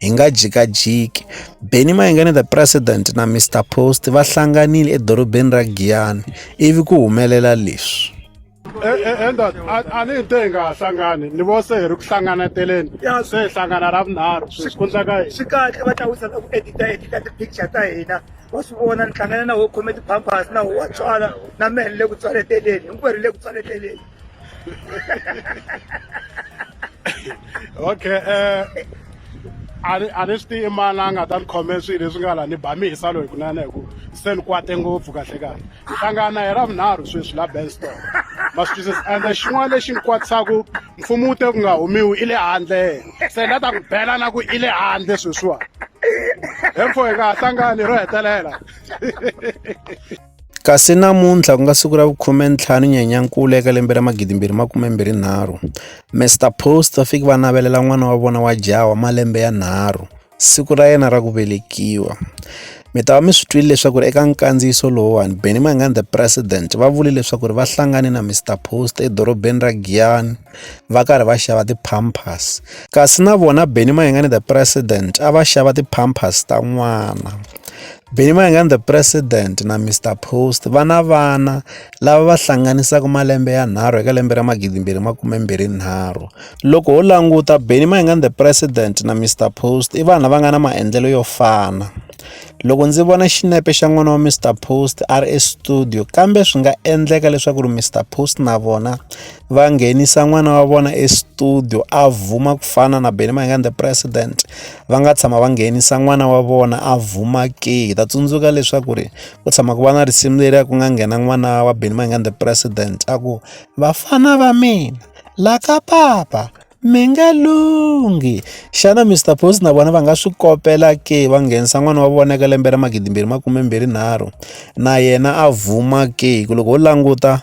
Hi nga jikajiki, Benny Mayengani the President na Mister Post va hlanganile edorobeni ra Giyani ivi ku humelela leswi. Enda eh, eh, eh, a ni hi te hi nga ha hlangani ni vo se hi ri ku hlanganeteleni se hi hlangana ra vunharhu swikhundla ka hina swi kahle va ta wisa ku edita edita ti-picture ta hina wa swi vona ni hlangana na wo khome ti-pampers na wo wa tswala na mehe ni le ku tswaleteleni hinkwerhu hi le ku tswaleteleni okay eh a ni a ni swi tivi mani a nga ta ni khome swilo leswi nga la ni ba mi hisa loyi kunene hi ku se ni kwate ngopfu kahle kahle ni hlangana na yena vunharhu sweswi la benstore ma swi twisisa ende xin'wana lexi ni kwatisaka mfumo wu te ku nga humiwi i le handle se ni la ta ku bela na ku i le handle sweswiwani hemfo hi nga ha hlangani ro hetelela Kasi namuntlha ku nga siku ra vu-15 Nyenyankulu eka lembe ra 2023, Mister Post va fike va navelela n'wana wa vona wa jaha wa malembe ya nharhu siku ra yena ra ku velekiwa. Mi ta va mi swi twile leswaku ri eka nkandziyiso lowuwani Benny Mayengani the President va vule leswaku ri va hlangane na Mister Post edorobeni ra Giyani va karhi va xava ti-pampers. Kasi na vona Benny Mayengani the President a va xava ti-pampers ta n'wana. Benny Mayengani the president na Mister Post va na vana lava va hlanganisaka malembe ya nharhu eka lembe ra magidi mbirhi makume mbirhi nharhu loko ho languta Benny Mayengani the president na Mister Post i vanhu lava nga na maendlelo yo fana loko ndzi vona xinepe xa n'wana wa Mister Post a ri estudio kambe swi nga endleka leswaku ri Mister Post na vona va nghenisa n'wana wa vona estudio a vuma ku fana na Benny Mayengani the president va nga tshama va nghenisa n'wana wa vona a vhuma ke hi ta tsundzuka leswaku ri ku tshama ku va na risimu leri a ku nga nghena n'wana wa Benny Mayengani the president a ku vafana va mina la ka papa mi nga lunghi xana Mister Post na vona va nga swi kopela ke va nghenisa n'wana wa vona eka lembe ra magidimbirhi makume mbirhi nharhu na yena a vhuma ke hi ku loko ho languta